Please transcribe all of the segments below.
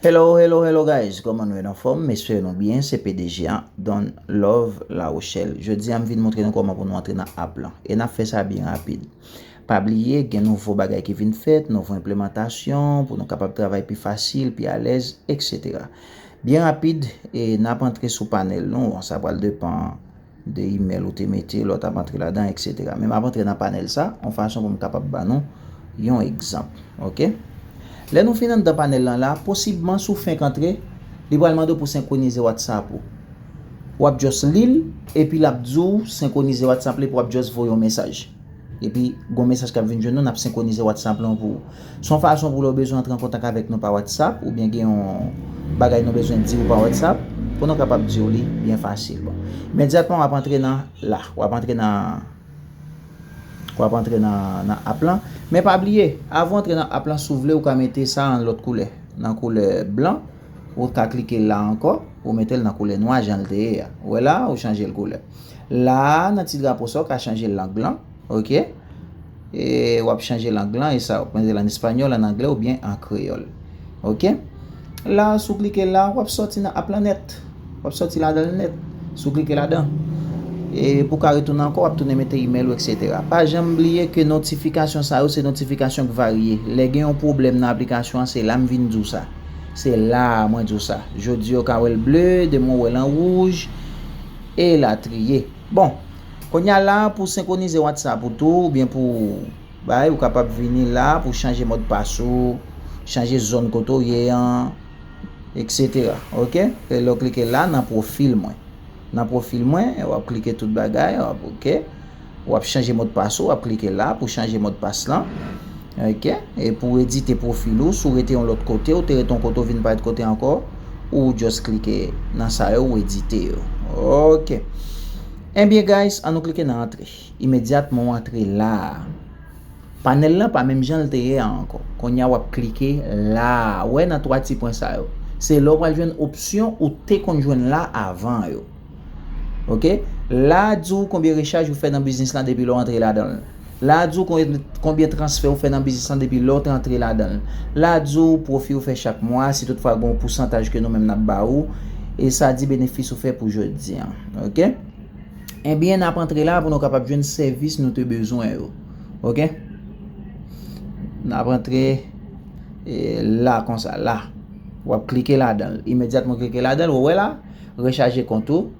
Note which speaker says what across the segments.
Speaker 1: Hello hello hello guys koman nou ye nou anfom m espere nou byen se pdg an Don love la rochelle jodi an m vin montre nou koman pou nou antre nan app lan e nap fè sa byen rapid pa bliye gen nouvo bagay ki vin fèt nouvo enplemantasyon pou nou kapab travay pi fasil pi alèz etc byen rapid e nap antre sou panel nou an sa pral depan 2 imèl ou te mete, lòt ap antre ladan, eksetera. Men m ap antre nan panèl sa yon fason pou m kapab ban nou yon egzanp. Ok. Lè nou fin anndan panèl lan la, posibman si w fenk antre, li pral mande w pou senkwonize whatsapp ou. W ap just li l, epi l ap di w senkwonize whatsapp la epi w ap just voye yon mesaj. Epi, gon mesaj k ap vin jwenn nou, n ap senkwonize Whatsapp lan pou ou. Se yon fason pou lè ou bezwen antre an kontak avèk nou pa Whatsapp, oubyen gen yon bagay nou bezwen di ou pa Whatsapp, pou nou kapab di ou li byen fasil. Bon, imedyatman w ap antre nan la, w ap antre nan, w ap antre nan, nan app lan. Men pa bliye, avan w antre nan app lan, si w vle ou ka mete sa an lòt koulè, nan koulè blan, ou ka klike la ankò, ou mete l nan koulè nwa jan l te ye a. Ou wè la a, ou chanje l koulè. La a nan ti drapo sa ou ka chanje lang lan. Ok. E wap chanje lang lan e sa wap mete lan espanyòl, an anglè oubyen an kreyòl. Ok. La a sou klike la wap soti nan app lan nèt. Wap soti ladan l nèt. Sou klike ladan. E pou ka retounen ankò wap tounen mete email ou etc. Pa janm bliye ke notifikasyon sa yo se notifikasyon k varye. Lè gen yon pwoblèm nan aplikasyon an se la m vin di w sa. Se la a mwen di w sa. Jodi ou ka wè l ble, demen ou wè l an wouj. E latriye. Bon. Kounye a la, pou senkwonize WhatsApp ou tou, oubyen pou w bay, ou kapab vini la pou w chanje modpas ou, chanje zòn kote w ye an, eksetera. Ok. E lè w klike la nan pwofil mwen. Nan pwofil mwen, wap klike tout bagay, wap ok. Ou ap chanje modpas ou, ap klike la pou chanje modpas lan. Ok, e pou edite pwofil ou, si w rete yon lòt kote, ou te rete yon kote ou vin parèt kote ankò, ou just klike nan sa yo, ou edite yo. Ok. Enbyen guys, an nou klike nan antre. Imedyatman ou antre la a. Panèl lan pa menm jan l te ye a ankò. Kounye a w ap klike la a. Ou wè nan 3 ti pwen sa yo. Se la ou pral jwenn opsyon ou te konn jwenn la avan yo. Ok la a di w konbyen rechaj ou fè nan biznis lan depi lè w antre ladan l. La a di w konbyen transfè ou fè nan biznis lan depi lè w te antre ladan l. La a di w pwofi ou fè chak mwa si tout fwa gen yon pousantaj ke nou menm nap ba ou e sa di benefis ou fè pou jodi an ok. Ebyen nap antre la pou nou kapab jwenn sèvis nou te bezwen yo ok. Nap antre la konsa la wap klike ladan l imedyatman w klike ladan l ou wè la. Rechaje kont ou,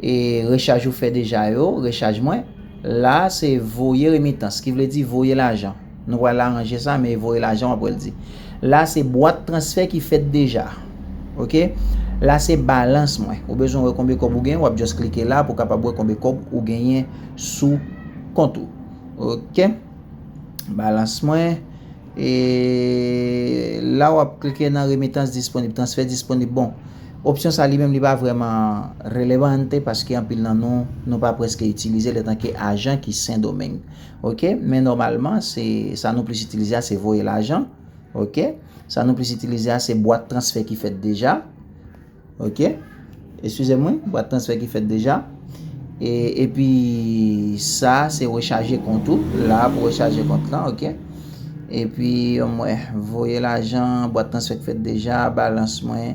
Speaker 1: e rechaj ou fè deja yo, rechaj mwen, la a se voye remitans, ki vle di voye lajan. Nou pral aranje sa, men voye lajan w ap wè l di. La a se bwat transfè ki fèt deja. Ok. La a se balans mwen. Ou bezwen wè konbe kòb ou gen, w ap just klike la pou w kapab wè konbe kòb ou genyen sou kont ou. Ok. Balans mwen. E la w ap klike nan remitans disponib, transfè disponib. Bon. Opsyon sa li menm li pa vrèman relevante paske anpil nan nou, nou pa prèske itilize l etanke ajan ki Sendomeng. Ok, men nòmalman se sa nou plis itilize a se voye lajan. Ok, sa nou plis itilize a se bwat transfè ki fèt deja. Ok, eskize m wi, bwat transfè ki fèt deja. E pi sa se rechaje kont ou. La pou rechaje kont lan ok. E pi yon mwe voye lajan, bwat transfè k fèt deja, balans mwen,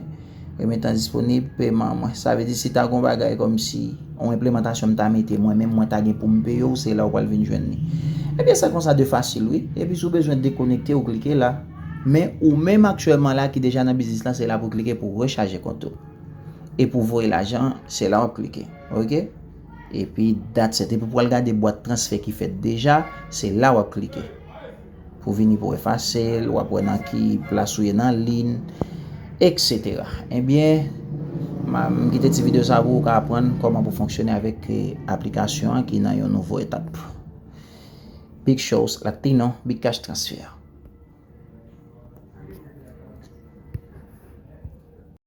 Speaker 1: remitan disponib, peman mwen. Sa vle di si ta gon bagay kom si yon enplemantasyon m ta mete mwen menm mwen ta gen pou m peye w se la ou pral vin jwenn li. E byen sa konsa de fasil wi. E pi si w bezwen dekonekte ou klike la. Men ou menm aktyèlman la ki deja nan biznis lan se la pou klike pou rechaje kont ou. E pou voye lajan an, se la wap klike. Ok. Epi dat set. Epi pou al gade bwat transfè ki fèt deja, se la wap klike. Pou vini pou efase l, wap wè nan ki plas ou ye nan lin, etc. Ebyen, m kite ti video sa pou ou ka aprann kòman pou fonksyone avèk aplikasyon an ki nan yon nouvo etap. Big shows latino, big cash transfer.